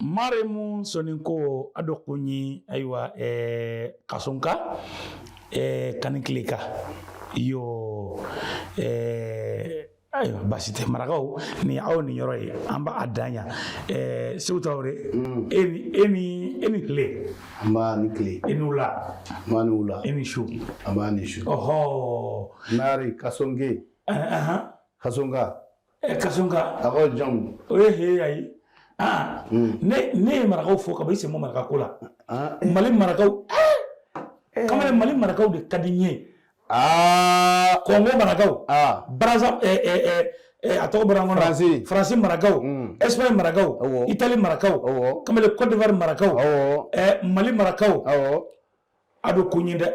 maremu soninko a do kuɲi ayiwa eh, kasonka eh, kanikileka yo eh, ayiwa basi tɛ marakaw nin aw niyɔrɔ ye an b'a dan yan eh, segu tarawele mm. e ni e ni e ni tile nba i ni tile e ni wula nba i ni wula e ni su nba i ni su ɔhɔ nari kasonke uh eh, -huh. Eh, eh, kasonka Ɛ ka a ko jɔn o ye h a ye aa ne ye marakaw fo ka ban i sen bɔ maraka ko la mali marakaw kamalen mali marakaw de ka di n ye aa kongo marakaw Brazza a tɔgɔ bɔra n kɔnɔ faransi marakaw Espagne marakaw Italie marakaw kamalen Côte d'Ivoire marakaw mali marakaw a do kuɲinde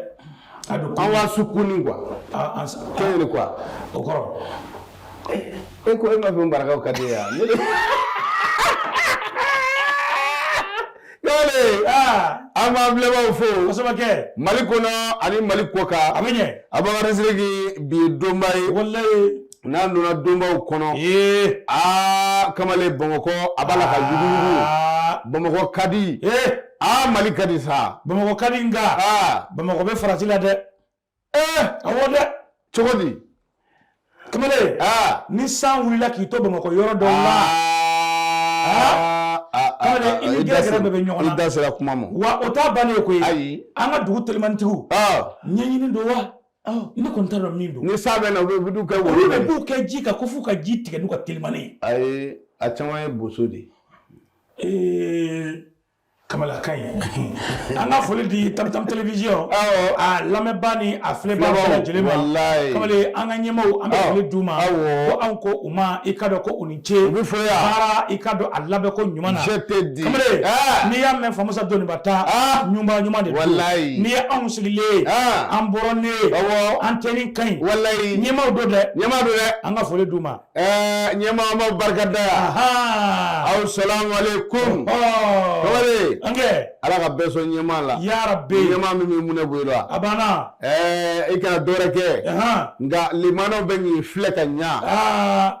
a do awa sukuni quoi an kɛɲɛ de quoi o kɔrɔ e ko e ma fɛn marakaw ka di ye yan kɛwale an b'an filɛbaaw fo kosɛbɛ kɛ mali kɔnɔ ani mali kɔkan a bɛ ɲɛ a b'an ka bi ye donba ye walayi N'an donna donbaw kɔnɔ ee aa kamalen bamakɔ a b'a la ka jugu bamakɔ ka di ee aa mali ka di sa bamakɔ ka di nka aa bamakɔ bɛ farati la dɛ ee awɔ dɛ cogo di kamalen aa ni san wulila k'i to bamakɔ yɔrɔ dɔw la i ni gɛrɛ bɛ ɲɔgɔn na i da sera kuma ma wa o t'a bannen ye koyi ayi an ka dugu telimanitigiw ɲɛɲini don wa Oh. Ne kɔni t'a dɔn min don. Ni san bɛ na u bɛ du kɛ woro. Olu bɛɛ b'u kɛ ji kan ko f'u ka ji tigɛ n'u ka telimani ye. Ayi a caman ye boso de ye. Ee Kamalen ka ɲi. An ka foli di Tam Tam télévision. Awɔ. A lamɛnbaa ni a filɛbaa bɛɛ lajɛlen ma. Walayi. Kamalen an ka ɲɛmaaw an bɛ foli d'u ma. Awɔ. Ko anw ko u ma i k'a dɔn ko u ni cɛ u bɛ fo yan baara i k'a dɔn a labɛnko ɲuman na je te dis kamalen ah! n'i y'a mɛn famusa dɔnniba ta ah! ɲuman ɲuman de walayi n'i ye anw sigilen ah! an bɔra ne ye awɔ an tenue ka ɲi walayi ɲɛmaaw don dɛ ɲɛmaa don dɛ an ka foli d'u ma ɛɛ ɲɛmaa ma barika da yan aw salamualeykum kamalen an kɛ ala ka bɛɛ sɔn ɲɛmaa la yarabi ɲɛmaa min bɛ mɔnɛ bɔ i la a banna ɛɛ i kana dɔwɛrɛ kɛ nka limanaw bɛ k'i filɛ ka ɲa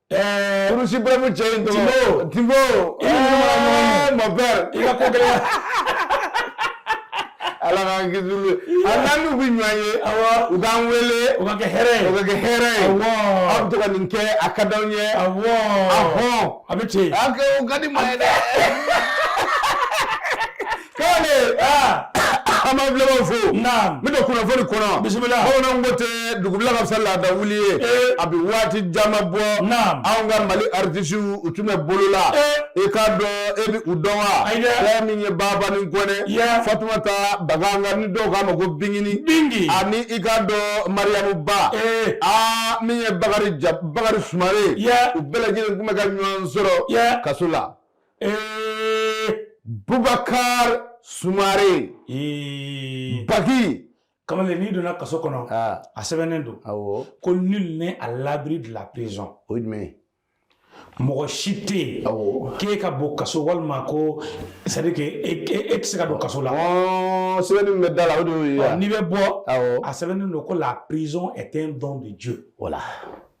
Kurusi bɛmu cɛ in tɔgɔ Tinbo mon père i ka ko gɛlɛya ala k'an kisi olu a n'an n'u bɛ ɲɔgɔn ye u k'an wele o ka kɛ hɛrɛ ye o ka kɛ hɛrɛ ye aw bɛ to ka nin kɛ a ka d'anw ye a hɔn a bɛ ten a kɛ o ka di maa ye dɛ k'ale an b'an filɛbaaw fo n bɛ don kunnafoni kɔnɔ bisimila bamananw ko ten dugubila ka fisa laada wuli ye a bɛ waati caman bɔ anw ka mali aritisiw u tun bɛ bolo la i k'a dɔn e bɛ u dɔn wa fɛn min ye babani kɔnɛ fatumata baganga ni dɔw k'a ma ko bingini bingi ani i k'a dɔn mariyamu ba aa min ye bakari bakari sumare u bɛɛ lajɛlen tun bɛ ka ɲɔgɔn sɔrɔ kaso la Bubakari sumare baki kamalen n'i donna kaso kɔnɔ a sɛbɛnnen don ko nul n'est à l'abri de la prison o ye jumɛn ye mɔgɔ si tɛ yen k'e ka bɔ kaso walima ko c'est à dire que e tɛ se ka don kaso la sɛbɛn bɛ da la n'i bɛ bɔ a sɛbɛnnen don ko la prison est un don de Dieu o la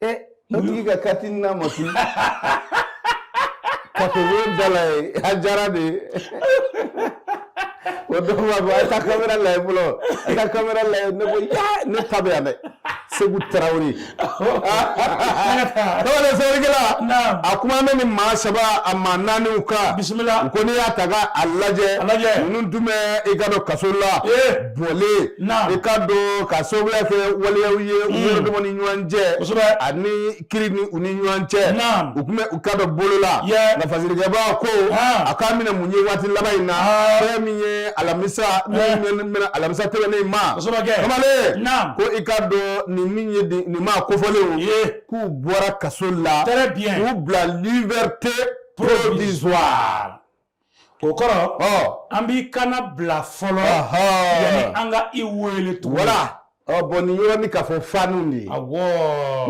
e o tigi ka kati n'a ma tunun ka to da la ye a diyara de ye o dɔw b'a fɔ a taa kamera lajɛ fɔlɔ a taa kamera lajɛ ne ko ya ne ta bɛ yan dɛ segu tarawele tarawele sɛbɛnnikɛla a kuma bɛ ni maa saba a maa naaniw kan bisimila u ko ne y'a ta ka a lajɛ ninnu tun bɛ i k'a dɔn kaso la bɔlen i k'a dɔn k'a sababuya kɛ waleyaw ye u mm. yɛrɛ dama ni ɲɔgɔn cɛ ani kiri ni u ni ɲɔgɔn cɛ u tun bɛ i k'a dɔn bolo la nka fasirikɛbaa ko a k'a minɛ mun ye waati laban in na fɛn min ye alamisa min bɛna alamisa tɛmɛnen ma kamalen ko i k'a dɔn nin min ye nin maa kofɔlenw k'u bɔra kaso la k'u bila liberté provisoire o kɔrɔ an b'i kannabila fɔlɔ yanni an ka i wele tugun voilà bon nin yɔrɔnin k'a fɔ faniw de ye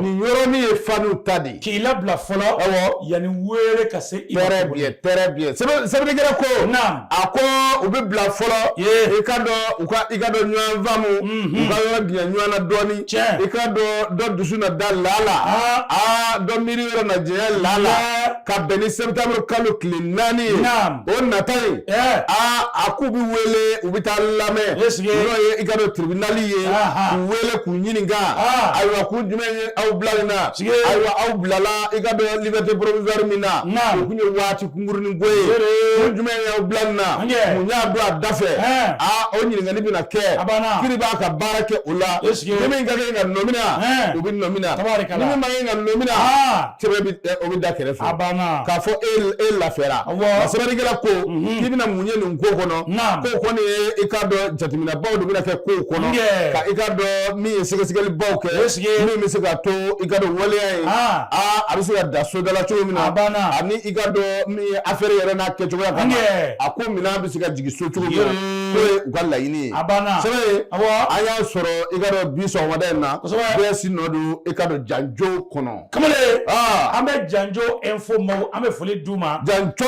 nin yɔrɔnin ye faniw ta de ye k'i labila fɔlɔ yanni wele ka se i très bien très bien sɛbɛnnikɛla ko a ko u bɛ bila fɔlɔ i k'a dɔn u ka i k'a dɔn ɲɔgɔn faamu u ka yɔrɔ janya ɲɔgɔn na dɔɔnin i k'a dɔn dɔ dusu na da lala aa dɔ miiri yɔrɔ na janya lala ka bɛn ni sɛtanburu kalo tile naani ye o nata ye aa a k'u bɛ wele u bɛ taa lamɛn n'o ye i k'a dɔn tiribinali ye k'u wele k'u ɲininka ayiwa kun jumɛn ye aw bila nin na ayiwa aw bilala i k'a dɔn liberté provisoire min na o tun ye waati kunkurunin ko ye kun jumɛn ye aw bila nin na mun y'a don a da fɛ aa o ɲininkali bɛna kɛ kiri b'a ka baara kɛ o la ni min ka kan ka nɔmina o bɛ nɔmina ni min man kan ka nɔmina sɛbɛn bɛ o bɛ da kɛrɛfɛ a banna k'a fɔ e e lafiyara nka sɛbɛnnikɛla ko mhm. k'i bɛna mun ye nin ko kɔnɔ ko kɔni ye i k'a dɔn jateminɛbaw dɔ bɛna kɛ ko kɔnɔ ka i k'a dɔn min ye sɛgɛsɛgɛlibaw kɛ min bɛ se ka to i ka dɔn waleya ye ah. aa a bɛ se ka da sodala cogo min na a banna ani i ka dɔn min ye afɛri yɛrɛ n'a kɛcogoya kama a ko minɛn bɛ se ka jigin so cogo min na k'o ye u ka laɲini ye a banna sɛbɛn ye an y'a sɔrɔ i ka dɔn bi sɔgɔmada in na bɛɛ si nɔ don i ka dɔn janjo kɔnɔ kamalen an bɛ janjo info ma an bɛ foli d'u ma janjo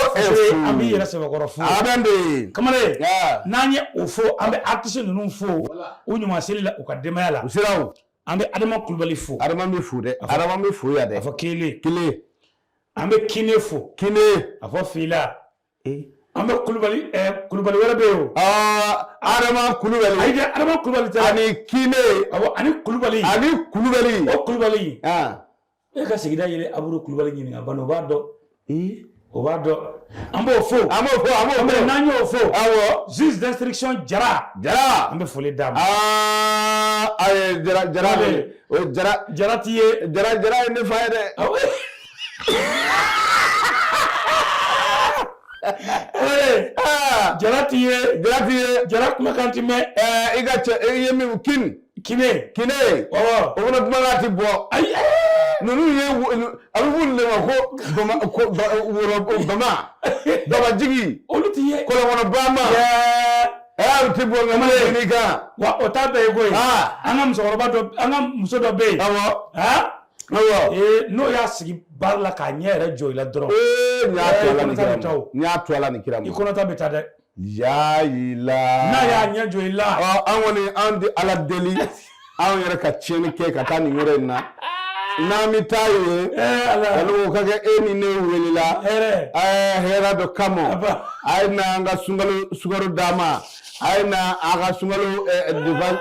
an bɛ yɛrɛ cɛbakɔrɔ fo bɛ kamalen n'an ye o fo an bɛ artisi ninnu fo u ɲuman seli la u ka denbaya la siraw an bɛ adama kulubali fo adama bɛ fo dɛ adama bɛ fo yan dɛ a fɔ kelen kelen an bɛ kine fo kelen a fɔ fila an bɛ kulubali kulubali wɛrɛ bɛ yen adama kulubali ayi adama kulubali tɛ ani kine ani kulubali ani kulubali o kulubali e ka sigida yɛrɛ abudu kulubali ɲininka balo o b'a dɔn o b'a dɔn an b'o fo an b'o fo an b'o fo n'an y'o fo awɔ juge d'instruction jara jara an bɛ foli d'a ma aa ayi jara jara o jara jara ti ye jara jara ye ne fa ye dɛ jara t'i ye jara t'i ye jara kumakan ti mɛn i ka cɛ i ye min kin kine kine ɔwɔ o fana kumakan ti bɔ ayi ninnu ye a bɛ f'olu de ma ko bama ko woro bama bamajigi olu ti ye kɔlɔnkɔnɔ bama ɛɛ ti bɔ nka mali ni kan wa o t'a bɛɛ ye koyi an ka musokɔrɔba dɔ an ka muso dɔ bɛ yen awɔ n'o y'a sigi baara la k'a ɲɛ yɛrɛ jɔ i la dɔrɔn n y'a to Ala ni kira ma n y'a to Ala ni kira ma i kɔnɔta bɛ taa dɛ yayila n'a y'a ɲɛ jɔ i la an kɔni an bɛ Ala deli anw yɛrɛ ka tiɲɛni kɛ ka taa nin yɔrɔ in na n'an bɛ taa yen Ala k'a kɛ e ni ne welela hɛrɛ dɔ kama a ye na an ka sunkalo sukaro d'a ma a ye na a ka sunkalo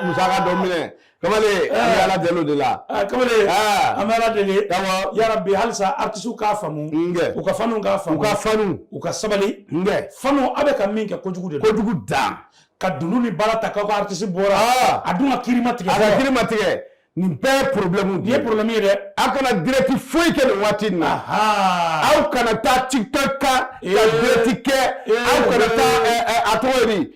musaka dɔ minɛ kamalen an bɛ ala deli o de la kamalen an bɛ ala deli yarabi halisa artisiw k'a faamu u ka fanw k'a faamu u ka fanw u ka sabali fanw a bɛ ka min kɛ kojugu de kojugu dan ka dunun ni bara ta k'aw ka artisi bɔra a dun ka kiri ma tigɛ a ka kiri ma tigɛ nin bɛɛ ye problème de ye problème ye dɛ aw kana direct foyi kɛ nin waati in na aw kana taa tiktok kan ka direct kɛ aw kana taa a tɔgɔ ye di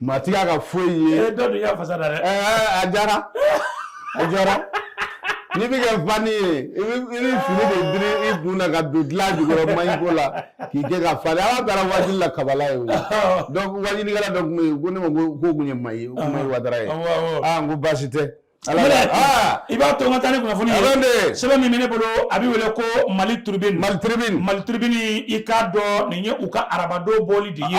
Maa tɛ ka foyi ye e dɔ y'a fasa da dɛ a diyara a diyara n'i bɛ kɛ fan ye i fini de bi i dun na ka don dilan jukɔrɔ ma ko la k'i kɛ ka fa ala taara wajuli la kabala yen wajulikɛla dɔ tun ko ne ma ko ko tun ye ma ye o kuma ye wara ye ko baasi tɛ i b'a to n ka taa ni kunnafoni ye sɛbɛn min bɛ ne bolo a bɛ wele ko mali tribune mali tribune mali tribune i k'a dɔn nin ye u ka arabadon bɔli de ye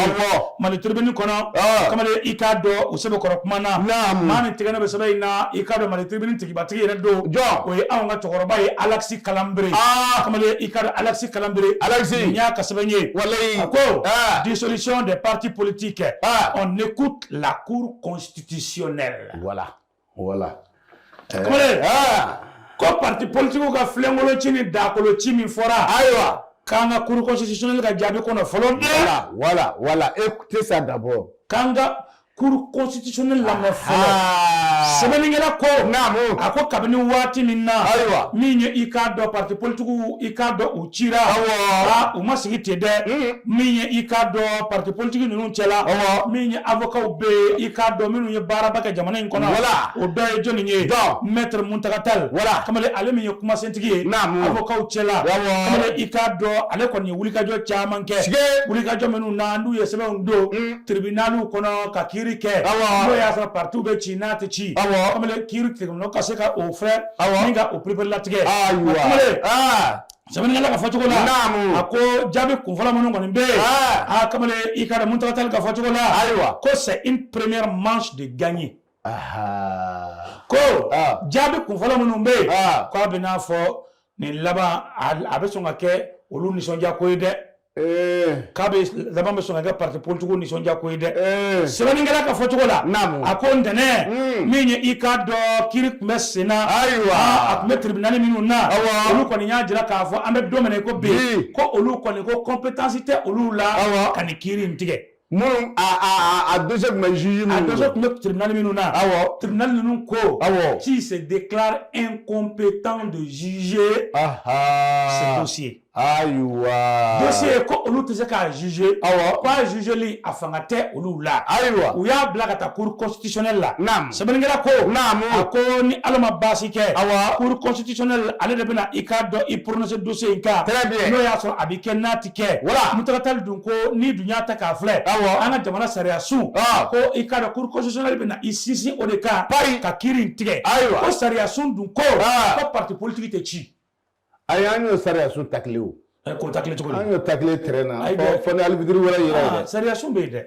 mali tribune kɔnɔ kamalen i k'a dɔn u sɛbɛkɔrɔ kuma na maa min tɛgɛnɔ bɛ sɛbɛn in na i k'a dɔn mali tribune tigibatigi yɛrɛ don jɔn o ye anw ka cɛkɔrɔba ye alexis kalambry kamalen i k'a dɔn alexis kalambry alexis nin y'a ka sɛbɛn ye walayi a ko dissolution des partis politiques on écoute la cour constitutionnelle voilà voilà kamalen ko parti politigiw ka filenkolon ci ni dakolo ci min fɔra ayiwa k'an ka cour constitutionnelle ka jaabi kɔnɔ fɔlɔ voilà voilà voilà écoutez ça d'abord k'an ka cour constitutionnelle lamɛn fɔlɔ sɛbɛnnikɛla ko naamu a ko kabini waati min na ayiwa min ye i k'a dɔn parti politigiw i k'a dɔn u cira u ma sigi ten dɛ min ye i k'a dɔn parti politigi ninnu cɛla min ye avokaw bɛ yen i k'a dɔn minnu ye baaraba kɛ jamana in kɔnɔ voilà o dɔ ye jɔnni ye maître mountaga tall voilà kamalen ale min ye kumasentigi ye avokaw cɛla kamalen i k'a dɔn ale kɔni ye wulikajɔ caman kɛ wulikajɔ minnu na n'u ye sɛbɛnw don tribunaliw kɔnɔ ka kiiri kɛ n'o y'a sɔrɔ partiw bɛ ci n'a tɛ ci kamalen kiiri tribunal ka se ka o fɛ o pereperelatigɛ sɛbɛnnikɛla ka fɔcogo la a ko jaabi kunfɔlɔ minnu kɔni bɛ yen kamalen i k'a dɔn mountaga tall ka fɔcogo la ayiwa ko c'est une première manche de gagnée ko jaabi kunfɔlɔ minnu bɛ yen k'a bɛ n'a fɔ nin laban a bɛ sɔn ka kɛ olu nisɔndiya ko ye dɛ Eh. k'a bɛɛ laban bɛ sɔn ka kɛ parti politique nisɔndiya ko ye dɛ eh. sɛbɛnnikɛla ka fɔcogo la a ko ntɛnɛn hmm. min ye i k'a dɔn kiiri tun bɛ sen na ayiwa ah, a tun bɛ tribunali minnu na olu kɔni y'a jira k'a fɔ an bɛ don min na i ko bi ko olu kɔni ko compétence tɛ olu la ka nin kiiri in tigɛ minnu a a a dossier tun bɛ juge minnu a dossier tun bɛ tribunal minnu na awɔ tribunal ninnu ko awɔ qui se déclare incompétent de juger ce dossier ayiwa dossier ko olu tɛ se k'a juger awɔ ko a jugeli a fanga tɛ olu la ayiwa u y'a bila ka taa cour constitutionnelle la naam sɛbɛnnikɛla ko naam a ko ni ala ma baasi kɛ awɔ cour constitutionnelle ale de bɛna i k'a dɔn i prononcer dossier in kan très bien n'o y'a sɔrɔ a bɛ kɛ n'a kɛ voilà mountaga tall dun ko n'i dun y'a ta k'a filɛ awɔ an ka jamana sariya sun ko i k'a dɔn cour constitutionnelle bɛna i sinsin o de kan ayiwa ka kiiri in tigɛ ayiwa ko sariya sun dun ko ko parti politigi tɛ ci ayi an y'o sariya sun tacler o ko tacler cogo an y'o tacler terrain na fɔ ni alibitiri wɛrɛ yɛrɛ sariya sun bɛ yen dɛ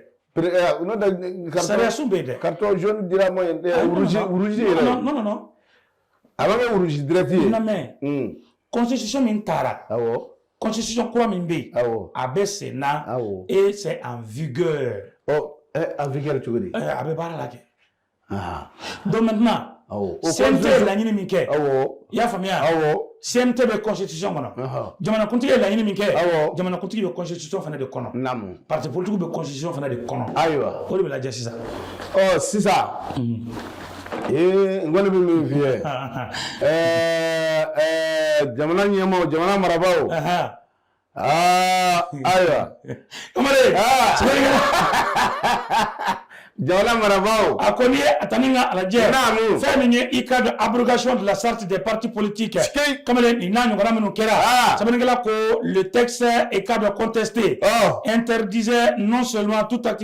sariya sun bɛ yen dɛ carton dira ma yɛrɛ A bɛ kɛ wulusi dirɛti ye mɛ kɔnsisi min taara kɔnsisi kura min bɛ yen a bɛ sen n' e cɛ an vya an vri cogo di a bɛ baara la kɛ dondina o sen tɛ laɲini min kɛ i y'a faamuya CNT bɛ constitution kɔnɔ jamanakuntigi ye laɲini min kɛ jamanakuntigi bɛ constitution fana de kɔnɔ parti politique bɛ constitution fana de kɔnɔ ayiwa o de bɛ lajɛ sisan ɔ sisan ee n kɔni bɛ min f'i ye ɛɛ jamana ɲɛmaaw jamana marabaaw ayiwa jamana marabaaw a ko n'i ye a ta ni ka a lajɛ naamu fɛn min ye i k'a dɔn abrogation de la charte des partis politiques sikei kamalen nin n'a ɲɔgɔnna minnu kɛra Ah. sɛbɛnnikɛla ko le texte i k'a dɔn contesté Oh. interdisait non seulement toute activité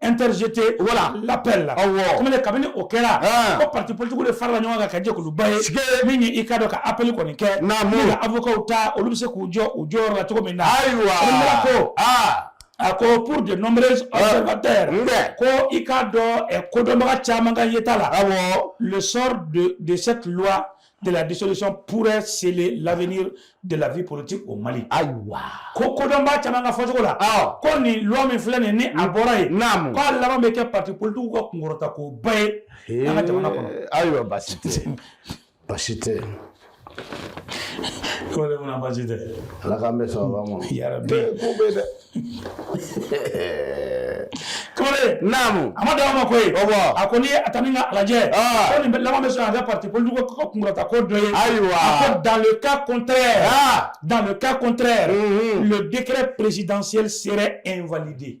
interjeté voilà l'appel la awɔ comme kabini o kɛra ko parti politique de farala ɲɔgɔn kan ka jɛkuluba ye min ye i ka dɔn ka appel kɔni kɛ naamu ka avocats ta olu bɛ se k'u jɔ u jɔyɔrɔ la cogo min na ayiwa ko aa a ko pour de nombreux observateurs ko i k'a dɔn kodɔnbaga caman ka yeta la awɔ le sort de de cette loi de la dissolution pourrait sceller l'avenir de la vie politique au Mali. Ayiwa. Ko kodɔnbaa caman ka fɔcogo la. Awɔ. Ko nin loi min filɛ nin ni a bɔra yen. Naamu. Ko a laban bɛ kɛ parti politique ka kunkɔrɔta ko ba ye. An ka jamana kɔnɔ. Ayiwa baasi tɛ. Baasi tɛ. Ko de mun na baasi tɛ. Ala k'an bɛn sababa ma. Yarabi. Ko bɛ dɛ. kamalen naamu a ma d'a ma koyi a ko n'i ye a ta ni ka a lajɛ ko nin laban bɛ sɔn an ka parti politique ko kunkɔrɔta ko dɔ ye ayiwa a ko dans le cas contraire dans le cas contraire le décret présidentiel serait invalidé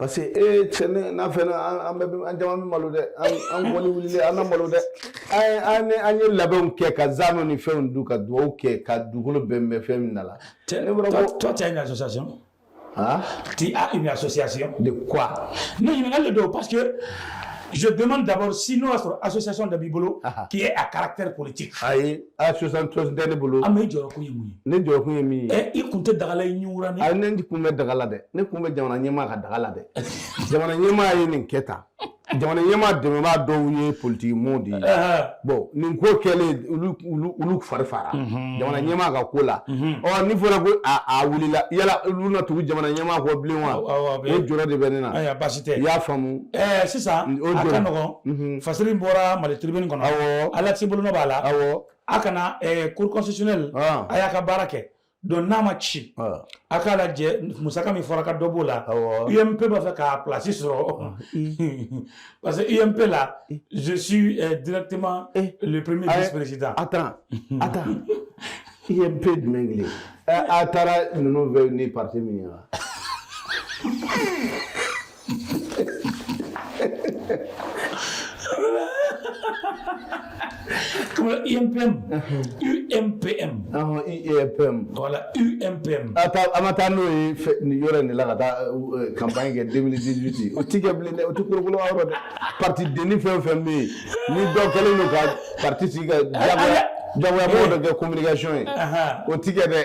parce que e cɛ ne n'a fɛnɛ an bɛɛ an caman bɛ malo dɛ an kɔni wulilen an na malo dɛ an an ye labɛnw kɛ ka zano ni fɛnw dun ka dugawu kɛ ka dugukolo bɛnbɛn fɛn min na la. ne bɔra ko toi tu as une association. Hein? Tu as une association. De quoi? Ne ɲininkali de don parce que je demande d'abord si n'o y'a sɔrɔ association dɔ b'i bolo qui est à caractère politique. Ayi. association tosi tɛ ne bolo ah mais jɔrɔkun ye mun ye ne jɔrɔkun ye min ye ɛ i kun tɛ daga la i ɲiwura ni a ne kun bɛ daga la dɛ ne kun bɛ jamana ɲɛmaa ka daga la dɛ jamana ɲɛmaa ye nin kɛ tan jamana ɲɛmaa dɛmɛbaa dɔw ye politiki mɔɔw de ye bon nin ko kɛlen olu fari faara mhm. jamana ɲɛmaa ka ko la mhm. ɔ ni fɔra ko a wulila yala olu na tugu jamana ɲɛmaa kɔ bilen wa o jɔrɔ de bɛ ne na i y'a faamu sisan a ka nɔgɔn mhm. fasiri bɔra mali tribune kɔnɔ awɔ alexi bolonɔ b'a la awɔ a kana eh, cour constitutionnelle ah. a y'a ka baara kɛ donc n'a ma ci ah. a k'a lajɛ musaka min fɔra ka dɔ b'o la ump b'a fɛ k'a place sɔrɔ ah. parce que ump la je suis eh, directement eh. le premier vice président attends attends ump jumɛn kelen eh, a taara ninnu fɛ ni parti min ye wa Comme le UMPM. UMPM. Ahɔn UMPM. Voilà, UMPM. A taa an ma taa n'o ye fɛ- nin yɔrɔ in de la ka taa euh, campagne kɛ 2018 o ti kɛ bilen dɛ o ti kolokolo yɔrɔ dɛ parti denni fɛn o fɛn bɛ yen ni dɔ kɛlen don ka parti sigi ka jagoya jagoya mɔgɔ dɔ kɛ communication ye Ahan. o ti kɛ dɛ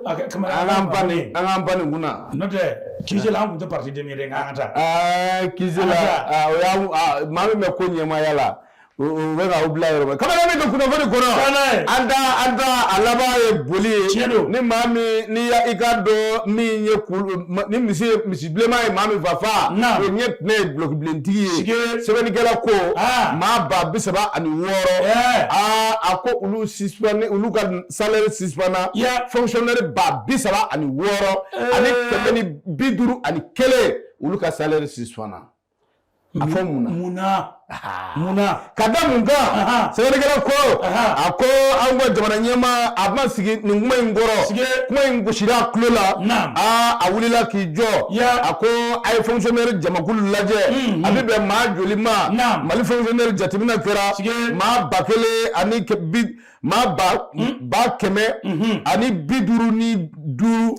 an ka pan nin kun na n'o tɛ kila an tun tɛ pati den yɛrɛ an ka taa ki la maa min bɛ ko ɲɛmaya la u bɛ ka bila yɔrɔ kamalen min ka kunnafoni kɔnɔ an an a laban ye boli ye ni maa min ni i ka dɔn min ye ni misi misi bilenma ye maa min fa fa o ɲɛ tun ye dulokibilentigi ye sɛbɛnnikɛla ko maa ba bi saba ani wɔɔrɔ aa a ko olu si olu ka salaire suspendu fonctionnaire ba bi saba ani wɔɔrɔ ani kɛmɛ ni bi duuru ani kelen olu ka salaire suspendu a fɔ mun na ka da mun kan sɛbɛnkɛla ko a ko an ka jamana ɲɛmaa ma sigi nin kuma in kɔrɔ kuma in gosira a tulo la aa a wulila k'i jɔ a ko a ye fonctionnaire jamakulu lajɛ mm, mm. a bɛ bɛn maa joli ma mali fonctionnaire jateminɛ kɛra maa ba kelen ani bi maa ba hmm? ba kɛmɛ hmm. ani bi duuru ni duuru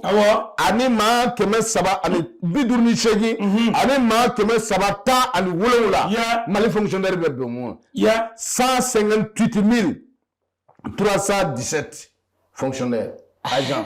ani maa kɛmɛ saba ani bi duuru ni seegin hmm. ani maa kɛmɛ saba tan ani wolonwula mali fonctionnaire bɛ bɛn mun cent cinquante huit mille trois cent dix sept fonctionnaire agent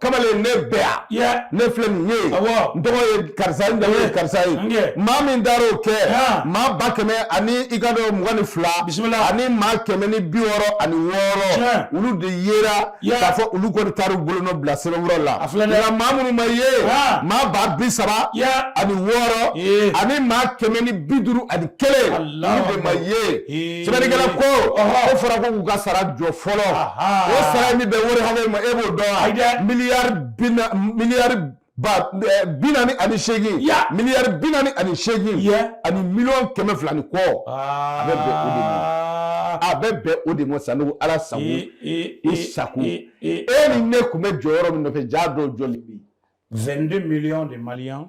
kamalen ne bɛ yan ne filɛ nin ye n tɔgɔ ye karisa ye n jamu ye karisa ye maa min taara o kɛ maa ba kɛmɛ ani i ka dɔn mugan ni fila ani maa kɛmɛ ni bi wɔɔrɔ ani wɔɔrɔ olu de yera k'a fɔ olu kɔni taara u bolonɔ bila sɛbɛnfura la nka maa minnu ma ye maa ba bi saba ani wɔɔrɔ ani maa kɛmɛ ni bi duuru ani kelen olu de ma ye Sɛbɛnnikɛla ko o fɔra ko k'u ka sara jɔ fɔlɔ o sara bɛ bɛn wari hakɛ min ma e b'o dɔn wa miliyari miliyari bi naani ani seegin miliyari bi naani ani seegin ani miliyɔn kɛmɛ fila ni kɔ a bɛ bɛn o de ma a bɛ bɛn o de ma sanɔgɔ ala sago i sago e ni ne tun bɛ jɔyɔrɔ min nɔfɛ jaa dɔw jɔlen bi 22 millions de maliens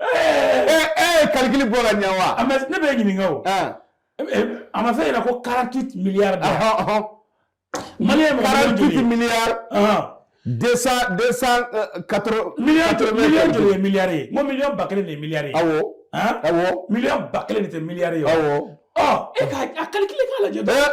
ee kalikili bɔ ka ɲɛ wa ne bɛ ɲininka o a ma fɔ i ɲɛ na ko 48 miliyari de mali ye mɔgɔ 48 miliyari deux cent deux cent quatre miliyɔn joli miliyɔn joli ye miliyari ye n ko miliyɔn ba kelen de ye miliyari ye awɔ awɔ miliyɔn ba kelen de tɛ miliyari ye awɔ ɔ e ka a kalikile k'a lajɛ dɔrɔn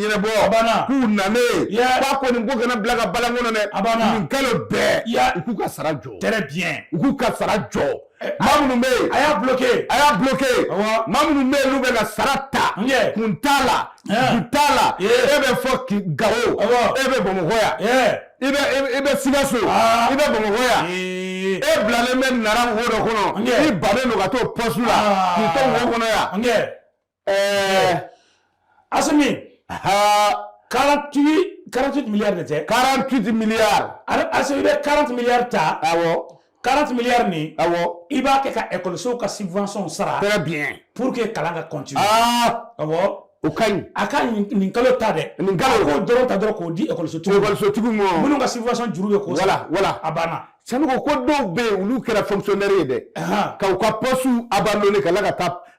ɲɛnabɔ k'u nalen b'a ko nin ko kana bila ka balan kɔnɔ dɛ nin kalo bɛɛ u k'u ka sara jɔ très bien u k'u ka sara jɔ eh, maa minnu bɛ yen a y'a bloqué a y'a bloqué maa minnu bɛ yen n'u bɛ ka sara ta kun t'a la eh. kun t'a la e bɛ fo Gawo e bɛ Bamakɔ yan eh. i bɛ i bɛ Sikaso ah. i bɛ Bamakɔ yan e bilalen bɛ Nara wo dɔ kɔnɔ i bannen don ka t'o poste la ah. k'i to wo kɔnɔ yan. Ɛɛ Asimi, haa, 48, 48 milliards de tɛ, 48 milliards, Asimi i bɛ 40 milliards ta, awɔ, 40 milliards nin, awɔ, i b'a kɛ ka ekɔlisow ka subventions sara, très bien, pour que kalan ka continuer, aa, awɔ. O ka ɲi a ka nin kalo ta dɛ nin kalo k'o dɔrɔn ta dɔrɔn k'o di ekɔlisotigiw ekɔlisotigiw ma minnu ka subvention juru bɛ kɔ voilà voilà a banna sinon ko dɔw bɛ yen olu kɛra fonctionnaire ye dɛ ka u ka poste abandonné ka la ka taa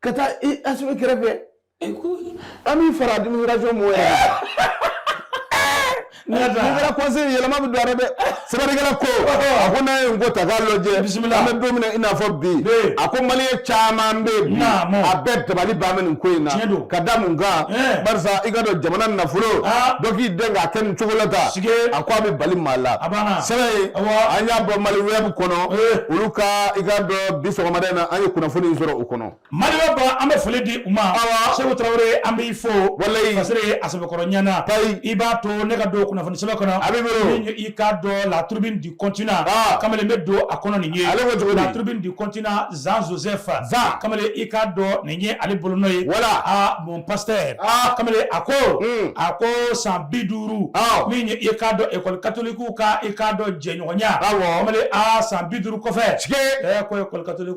ka taa i Asimi kɛrɛfɛ an b'i fara administration mɔgɔ ye kɛra conseil yɛlɛma bɛ don dɛ sɛbɛnnikɛla ko a ko n'a ye n ko ta k'a lajɛ bisimila an bɛ don min i n'a fɔ bi a ko malien caman bɛ bi a bɛɛ dabali ban bɛ nin ko in na ka da mun kan barisa i k'a dɔn jamana nafolo dɔ k'i den k'a kɛ nin cogo la ta a ko a bɛ bali maa la sɛbɛn an y'a bɔ maliweb kɔnɔ olu ka i k'a dɔn bi sɔgɔmada in na an ye kunnafoni in sɔrɔ u kɔnɔ maliweb an bɛ foli di u ma seku tarawele an b'i fo walayi a sɛbɛkɔrɔ ɲɛna i b'a to ne ka don kunnafoni sɛbɛn kɔnɔ nin i k'a dɔn la tribune du continent kamalen n bɛ don a kɔnɔ nin ye la tribune du continent jean joseph kamalen i k'a dɔn nin ye ale bolonɔ ye voilà mon pasteur kamalen a ko hmm. a ko san bi duuru min i k'a dɔn école catholique ka i k'a dɔn jɛɲɔgɔnya kamalen san bi duuru kɔfɛ ko école catholique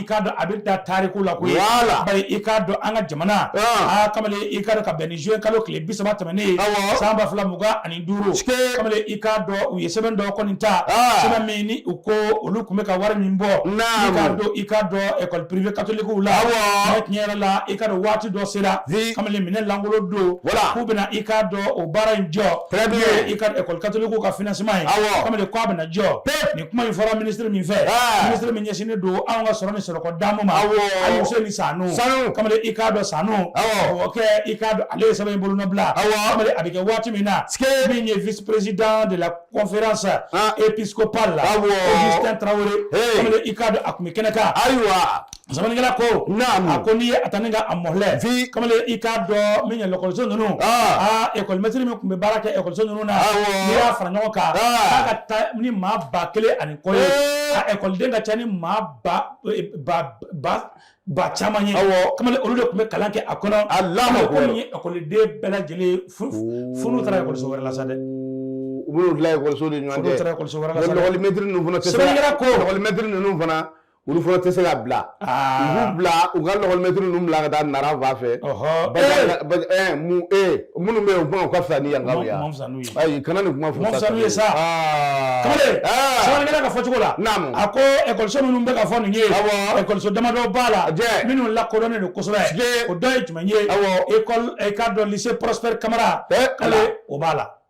i k'a dɔn a bɛ da tariku la koyi voilà bari i k'a dɔn an ka jamana aa kamalen i k'a dɔn ka bɛn ni juin kalo tile bi saba tɛmɛnen ye awɔ san ba fila mugan ani duuru kamalen i k'a dɔn u ye sɛbɛn dɔ kɔni ta sɛbɛn min ni u ko olu tun bɛ ka wari min bɔ naamu i k'a dɔn i k'a dɔn école privée catholique u la awɔ mais tiɲɛ yɛrɛ la i k'a dɔn waati dɔ sera kamalen minɛn lankolo don voilà k'u bɛna i k'a dɔn o baara in jɔ très bien i k'a dɔn école catholique ka financement ye awɔ kamalen k'a bɛna jɔ pep kuma in fɔra minisiri min fɛ minisiri min ɲɛsinnen don anw ka sɔrɔ ni sɔrɔko damu ma Alousséni Sanou kamalen i k'a dɔn Sanou o kɛ i k'a dɔn ale ye sɛbɛn in bolonɔbila kamalen a bɛ kɛ waati min na min ye vice président de la conférence épiscopale la Augustin Traoré kamalen i k'a dɔn a tun bɛ kɛnɛ kan ayiwa Sɛbɛnnikɛla ko a ko n'i ye a taa ne ka a mɔlɛ kamalen i k'a dɔn min ye lekɔliso ninnu ekɔlimɛtiri min tun bɛ baara kɛ ekɔliso ninnu na n'i y'a fara ɲɔgɔn kan a ka ca ni maa ba kelen ani kɔ ye ekɔliden ka ca ni maa ba caman ye kamalen olu de tun bɛ kalan kɛ a kɔnɔ a la ko ni ekɔliden bɛɛ lajɛlen funu taara ekɔliso wɛrɛ la sa dɛ u bɛ ekɔliso de ɲɔgɔn cɛ ekɔlimɛtiri ninnu fana olu fana tɛ se ka bila u bila u ka lekɔlimɛtiri ninnu bila ka taa Nara fan fɛ minnu bɛ yen u kuma u ka fisa ni yankaw ye ayi kana nin kuma fɔ sanu ye sa kamalen sɛbɛnnikɛla ka fɔcogo la naamu a ko ekɔliso minnu bɛ ka fɔ nin ye awɔ ekɔliso damadɔ b'a la minnu lakodɔnnen don kosɛbɛ o dɔ ye jumɛn ye awɔ ekɔli i k'a dɔn lycée Prosper Kamara k'ale o b'a la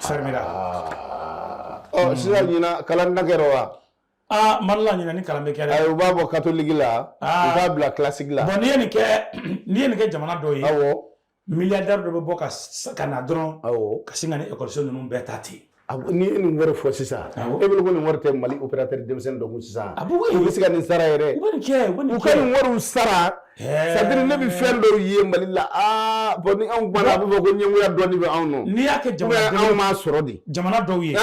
fɛrimɛra ɔ oh, sisan ɲina kalan na kɛra wa aa mali la ɲina ni kalan bɛ kɛ dɛ u b'a bɔ katoliki la u b'a bila kilasigi la bɔn n'i ye nin kɛ n'i ye nin kɛ jamana dɔw ye awɔ milliardaire dɔ bɛ bɔ ka na dɔrɔn awɔ ka sin ka nin ekɔliso ninnu bɛɛ ta ten n'i ye nin wari fɔ sisan e bolo ko nin wari tɛ mali opérateur denmisɛnnin dɔ kun sisan u bɛ se ka nin sara yɛrɛ u ka nin wariw sara c'est-à-dire ne bɛ fɛn dɔw ye mali la aa bɔn ni anw kumana a bɛ fɔ ko ɲɛngoya dɔɔni bɛ anw nɔ n'i y'a kɛ jamana anw m'a sɔrɔ de jamana dɔw ye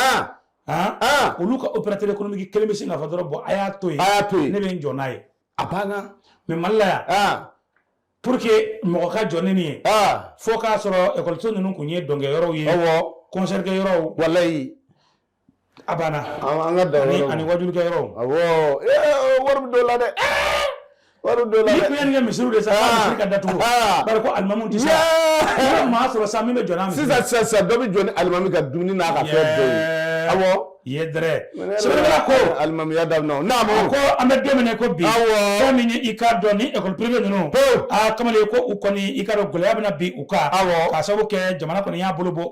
olu ka opérateur économique kelen bɛ sin k'a fɔ dɔrɔn bɔn a y'a to yen a y'a to yen ne bɛ n jɔ n'a ye a banna mais mali la yan pour que mɔgɔ ka jɔ ni nin ye fo k'a sɔrɔ ekɔliso ninnu tun ye dɔnkɛ yɔrɔw ye concert kɛ yɔrɔw walayi A banna an ka da ani wajulikɛ yɔrɔ wari bɛ dɔ la dɛ wari dɔ la kɛ misiri de sa misiri ka datugu ko alimamu tɛ sa maa sɔrɔ sa min bɛ jɔ n'a misiri sisan sa dɔ bɛ jɔ ni alimami ka dumuni n'a ka fɛn dɔw ye ko alimamiya da n'a ko an bɛ don min na ko bi fɛn min ye i k'a dɔn ni école privée ninnu kamalen ko u kɔni i k'a dɔn gɛlɛya bɛna bin u kan k'a sababu kɛ jamana kɔni y'a bolo bɔ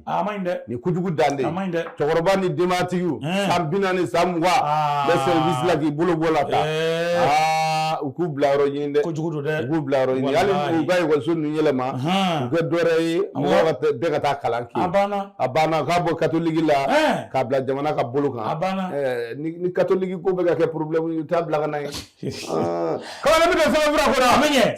a ma ɲi dɛ nin kojugu dan de a ma ɲi dɛ cɛkɔrɔba ni denbatigiw san bi naani san mugan bɛ sɛrivisi la k'i bolo bɔ u la tan u k'u bila yɔrɔ ɲini dɛ kojugu don dɛ u k'u bila yɔrɔ ɲini hali u ka ekɔliso ninnu yɛlɛma u kɛ dɔwɛrɛ ye mɔgɔ bɛɛ ka taa kalan kɛ a banna a banna k'a bɔ katoliki la k'a bila jamana ka bolo kan a banna ni katoliki ko bɛ ka kɛ porobilɛmu ye u t'a bila ka na ye Ah. kɔrɔkɛ bɛ sɛbɛnfura kɔnɔ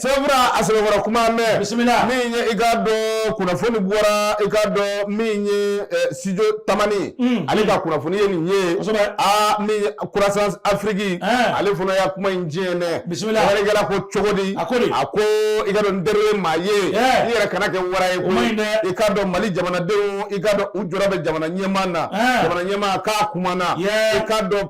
sɛbɛnfura a sɛbɛn fɔlɔ kuma mɛn bisimila min ye i k'a dɔn kunnafoni bɔra i k'a dɔn min ye eh, studio tamani mm. ale ka kunnafoni ye nin ye aa min ye croissance afrique eh. ale fana y'a kuma in diɲɛ dɛ bisimila wɛrɛ kɛra ko cogo di a ko de a ko i k'a dɔn n teri ye maa ye eh. i yɛrɛ kana kɛ wara ye koyi i k'a dɔn mali jamanadenw i k'a dɔn u jɔrɔ bɛ jamana ɲɛmaa na jamana ɲɛmaa k'a kumana i k'a dɔn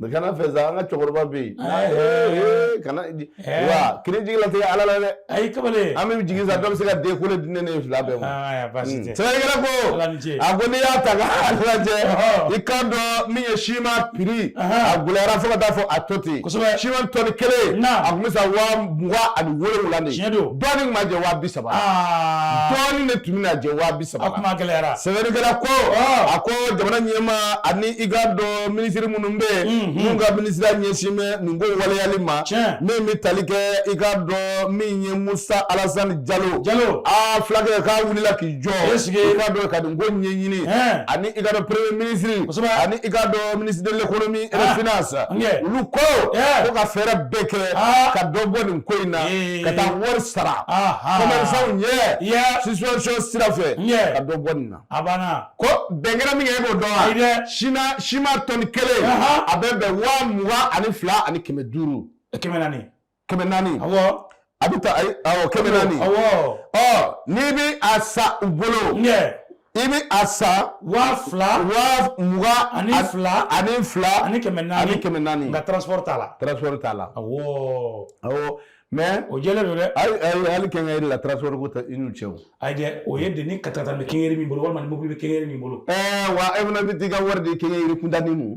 N kana fɛ an ka cɛkɔrɔba bɛ yen kana wa k'i jigi latigɛ ala la dɛ a kamalen an bɛ jigin dɔ bɛ se ka den ko di ne fila bɛɛ ma sɛbɛnnikɛla ko a ko n'i y'a ta i k'a dɔn min ye siman prix a gɛlɛyara fo ka taa fɔ a to ten siman tɔni kelen a tun bɛ san waa mugan ani wolonwula dɔɔnin ma jɛ waa bisaba dɔɔnin de tun bɛ jɛ saba kuma gɛlɛyara sɛbɛnnikɛla ko a ko jamana ɲɛmaa ani i k'a dɔn minisiri minnu bɛ yen minnu ka minisiriya ɲɛsin bɛ nin ko waleyali ma min bɛ tali kɛ i k'a dɔn min ye musa alasani jalo jalo aa fulakɛ k'a wulila k'i jɔ i k'a dɔn ka nin ko ɲɛɲini ani i k'a dɔn premier minisiri ani i k'a dɔn ministre de l'économie et des finances olu ko ko ka fɛɛrɛ bɛɛ kɛ ka dɔ bɔ nin ko in na ka taa wari sara commerçant ɲɛ subvention sira fɛ ka dɔ bɔ nin na a banna ko bɛn kɛra min kan e b'o dɔn wa ayi dɛ sina siman tɔni kelen a bɛ bɛn waa mugan ani fila ani kɛmɛ duuru kɛmɛ naani kɛmɛ naani awɔ a bɛ taa ayi awɔ kɛmɛ naani awɔ ɔ n'i bɛ a san u bolo i bɛ a san waa fila waa mugan ani fila ani fila ani kɛmɛ naani ani kɛmɛ naani nka transport t'a la transport t'a la awɔ awɔ mais o jɛlen don dɛ hali hali hali kɛnkɛri la transport ko tɛ i n'u cɛ o ayi dɛ o ye de ni katakata bɛ kɛnkɛri min bolo walima ni mobili bɛ kɛnkɛri min bolo ɛɛ wa e fana bɛ t'i ka wari di kɛnkɛri kuntanni ma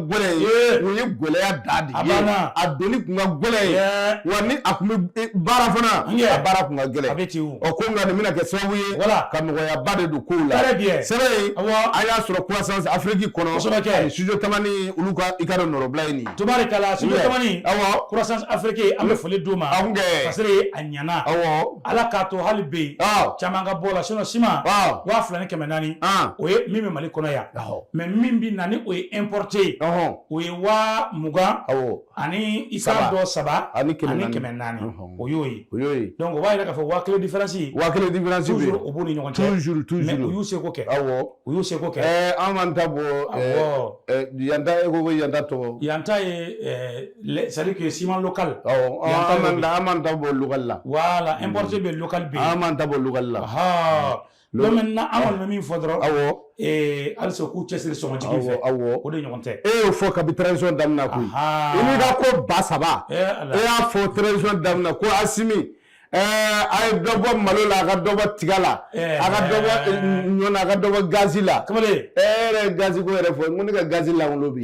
gɛlɛn ye o ye gɛlɛya da de ye a donni kun ka gɛlɛn ye wa ni a kun bɛ baara fana a baara kun ka gɛlɛn ɔ ko nka nin bɛna kɛ sababu ye ka nɔgɔyaba de don kow la sɛbɛn ye an y'a sɔrɔ croissance Afrique kɔnɔ ani studio tamani olu ka i k'a dɔn nɔrɔbila ye nin ye tubarikala studio tamani awɔ croissance Afrique an bɛ foli d'u ma en tout cas parce que a ɲana awɔ Ala k'a to hali bi caman ka bɔ a la sinon siman waa fila ni kɛmɛ naani o ye min bɛ Mali kɔnɔ yan. mais min bɛ na ni o ye importé ye o ye waa mugan ani i k'a dɔn saba ani kɛmɛ naani o y'o ye o b'a jira k'a fɔ waa kelen différence waa kelen de o b'u ni ɲɔgɔn cɛ u y'u seko kɛ u y'u seko kɛ an m'an ta bɔ yan ta ko yan ta tɔgɔ yan ta ye c'est-à-dire que ciment local an ta bɔ local la voilà importé bɛ local an ta bɔ local la min na aw bɛ min fɔ dɔrɔn aw halisa k'u cɛ siri sɔngɔjigi fɛ aw o de ɲɔgɔn tɛ e y'o fɔ kabi transition daminɛ koyi i n'i ka ko ba saba e y'a fɔ transition daminɛ ko Asimi a ye dɔ bɔ malo la a ka dɔ bɔ tiga la a ka dɔ bɔ ɲɔ na a ka dɔ bɔ gazi la kamalen e yɛrɛ gazi ko yɛrɛ fɔ ko ne ka gazi la bi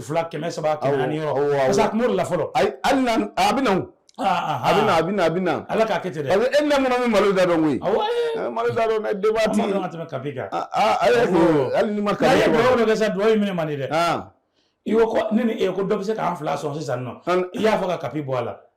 fila kɛmɛ saba ni mori la fɔlɔ a bɛ a bɛ a bɛ a bɛ ala k'a kɛ ten e na min malo da dɔn koyi malo da dɔn tɛmɛ kapi kan hali ma ka sa dugawu ye minɛ man di dɛ i ko ne e ko dɔ bɛ se k'an fila sɔn sisan nɔ i y'a fɔ ka kapi bɔ a la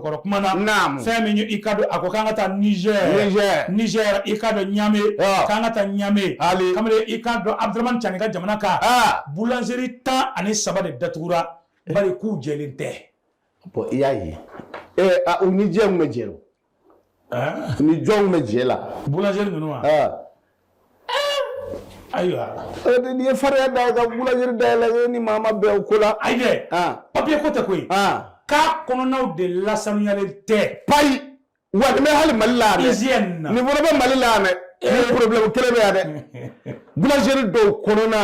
kɔrɔ kuma na naamu fɛn min i k'a dɔn a ko k'an ka taa Niger Niger Niger i k'a dɔn Niamey k'an ka taa Niamey hali kamalen i k'a dɔn Abdramane Tchani ka jamana kan boulangerie tan ani saba de datugura bari k'u jɛlen tɛ bon i y'a ye ee a u ni jɛ min bɛ jɛ o ni jɔnw bɛ jɛ la boulangerie ninnu wa ayiwa n'i ye fariya da ka boulangerie dayɛlɛ e ni maa ma bɛn o ko la ayi dɛ papiye ko tɛ koyi k'a kɔnɔnaw de lasanuyalen tɛ payi wa nin bɛ hali Mali la yan dɛ nin fana bɛ Mali la yan dɛ nin problème kelen bɛ yan dɛ boulangerie dɔw kɔnɔna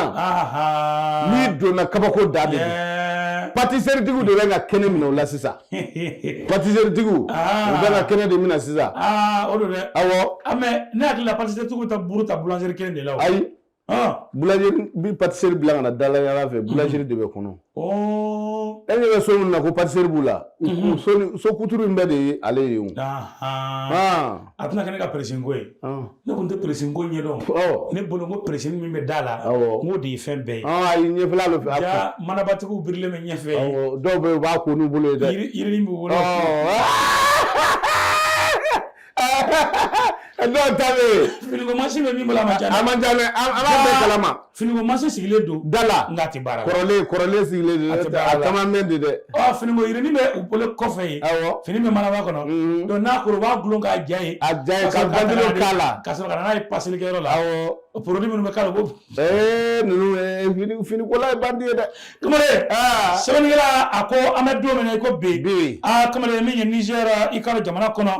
n'i donna kabako dan de don pâtisserie tigiw de bɛ ka kɛnɛ minɛ o la sisan patiseritigiw u bɛna kɛnɛ de minɛ sisan o don dɛ awɔ ne hakili la patiseritigiw bɛ taa buru ta boulangerie kelen de la o ayi boulangerie bi patisserie bila ka na dalayaala fɛ boulangerie de bɛ kɔnɔ e ɲɛ bɛ so min na ko patisserie b'u la so kuturu in bɛɛ de ye ale ye o a tɛna kɛ ne ka peresini ko ye ne tun tɛ peresini ko ɲɛdɔn ne bolo ko peresini min bɛ da la n k'o de ye fɛn bɛɛ ye ayi ɲɛfɛla bɛ fɛ ja manabatigiw birilen bɛ ɲɛfɛ dɔw bɛ yen u b'a ko n'u bolo ye dɛ yirinin b'u bolo dɔw ta bɛ yen finiko mansin bɛ min bolo a man ca a man ca dɛ an b'a bɛɛ kalama Finiko mansin sigilen don da la nka a tɛ baara kɔrɔlen sigilen don a caman mɛn de dɛ ɔ finikoyirinin bɛ u bolo kɔfɛ yen fini bɛ manaba kɔnɔ donc n'a kora u b'a gulon k'a ja yen a ja yen k'a la ka sɔrɔ ka na n'a ye paselikɛyɔrɔ la porodi minnu bɛ k'a la bon finikola ye bandi ye dɛ kamalen sɛbɛnnikɛla a ko an bɛ don min na i ko bi bi aa kamalen min ye Niger i ka jamana kɔnɔ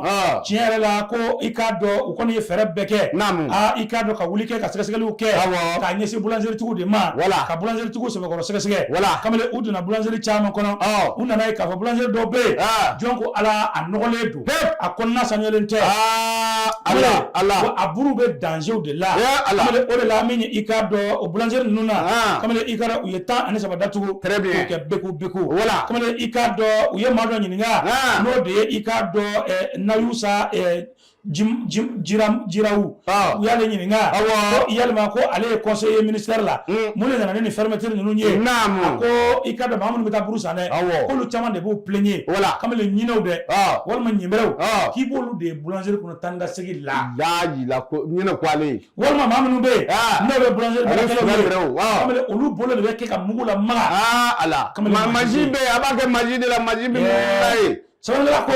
tiɲɛ yɛrɛ la ko i k'a dɔn u kɔni ye fɛɛrɛ bɛɛ kɛ naamu aa i k'a dɔn ka wuli kɛ ka sɛgɛsɛgɛliw kɛ awɔ k'a ɲɛsin bulanzeritigiw de ma wala ka bulanzeritigiw sɛbɛkɔrɔ sɛgɛsɛgɛ wala kamalen u donna bulanzeri caman kɔnɔ ɔ u nana a ye k'a fɔ bulanzeri dɔw bɛ yen jɔn ko ala a nɔgɔlen don a kɔnɔna sanuyalen tɛ aa ala ala a buru bɛ danzew de la ala o de la min i k'a dɔn boulangerie ninnu na aa kamalen i k'a dɔn u ye tan ani saba datugu très bien k'o kɛ beku beku voilà kamalen i k'a dɔn u ye maa dɔ ɲininka aa n'o de ye i k'a dɔn ɛɛ Nayusa ɛɛ jim jim jiram jirawu aa u y'ale ɲininka awɔ ko yalima ko ale ye conseiller ministère la un mun de nana ni nin fermeture ninnu ye a naamu ko i k'a dɔn maa minnu bɛ taa buru san dɛ awɔ k'olu caman de b'u plaigner voilà kamalen ɲinɛw dɛ aa walima ɲɛbɛrɛw aa k'i b'olu de ye boulangerie kɔnɔ taa ni ka segin la laa yila ko ɲinɛ ko ale ye walima maa minnu bɛ yen n'o bɛ boulangerie baarakɛlaw ye kamalen olu bolo de bɛ kɛ ka mugu lamaga a la mansin bɛ yen a b'a kɛ mansin de la mansin bɛ mugu la yen sɛbɛnnikɛla ko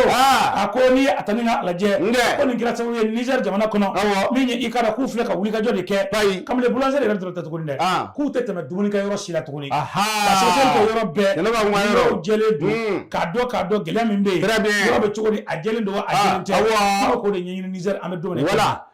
a ko n'i ye a ta ni k'a lajɛ ko nin kɛra sababu ye Niger jamana kɔnɔ min ye i k'a dɔn k'u filɛ ka wulikajɔ de kɛ kamalen boulangerie yɛrɛ dɔrɔn tɛ tuguni dɛ k'u tɛ tɛmɛ dumunikɛ yɔrɔ si la tuguni ka sɛgɛsɛgɛli kɛ yɔrɔ bɛɛ yɔrɔw jɛlen don k'a dɔn k'a dɔn gɛlɛya min bɛ yen yɔrɔ bɛ cogo di a jɛlen don wa a jɛlen tɛ k'o de ɲɛɲini Niger an bɛ don min na i ko bi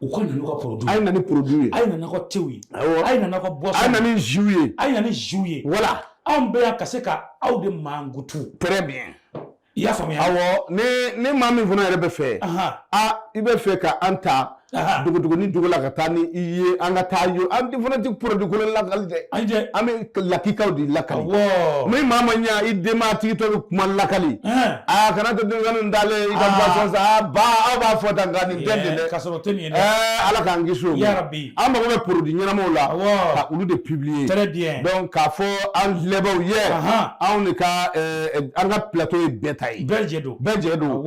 u ka na n'u ka produit a ye na ni produit ye a ye na n'aw ka tew ye awɔ a ye na n'aw ka boisson a ye na ni jus ye a ye na ni jus ye voilà anw bɛ yan ka se ka aw de mankutu très bien i y'a faamuya awɔ ni ni maa min fana yɛrɛ bɛ fɛ a i bɛ fɛ ka an ta dugu dugu ni dugu la ka taa ni i ye an ka taa yo an fana tɛ produit kolon lakali dɛ an bɛ lakikaw de lakali ni maa ma ɲa i denma tigi to bɛ kuma lakali aa kana to denmisɛnnin dalen i ka ah. boisson san aa ba aw b'a fɔ tan nka nin tɛ nin dɛ ka sɔrɔ o tɛ nin ye dɛ Ala k'an kisi o ma an mago bɛ produit ɲɛnamaw la ka olu de publier très bien donc k'a fɔ an filɛbaaw ye anw de ka an ka plateau ye bɛɛ ta ye bɛɛ jɛ don bɛɛ jɛ don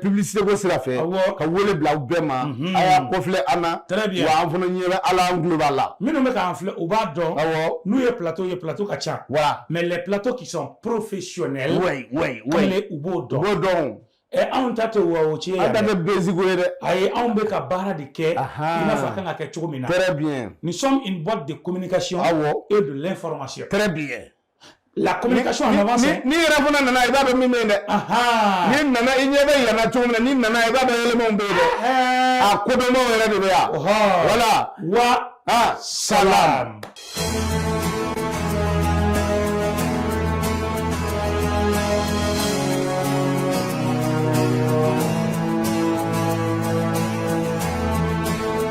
publicité ko sira fɛ ka wele bila aw bɛɛ ma a y'a kɔfilɛ an na très bien wa an fana ɲɛ b'a la an tulo b'a la minnu bɛ k'an filɛ u b'a dɔn awɔ n'u ye plateau ye plateau ka ca voilà mais les plateaux qui sont professionnels oui oui oui kelen u b'o dɔn u b'o dɔn o. ɛ anw ta tɛ wa o tiɲɛ an ta yɛrɛ tɛ basique ye dɛ ayi anw bɛ ka baara de kɛ i Ahan. n'a fɔ a kan ka kɛ cogo min na très bien nous sommes une boîte de communication awɔ et de l'information très bien la communication en avance n'i yɛrɛ fana nana i b'a dɔn min bɛ yen dɛ n'i nana i ɲɛ bɛ yɛlɛma cogo min na n'i nana i b'a dɔn yɛlɛmaw bɛ yen dɛ a kodɔnbaw yɛrɛ de bɛ yan voilà wa salam.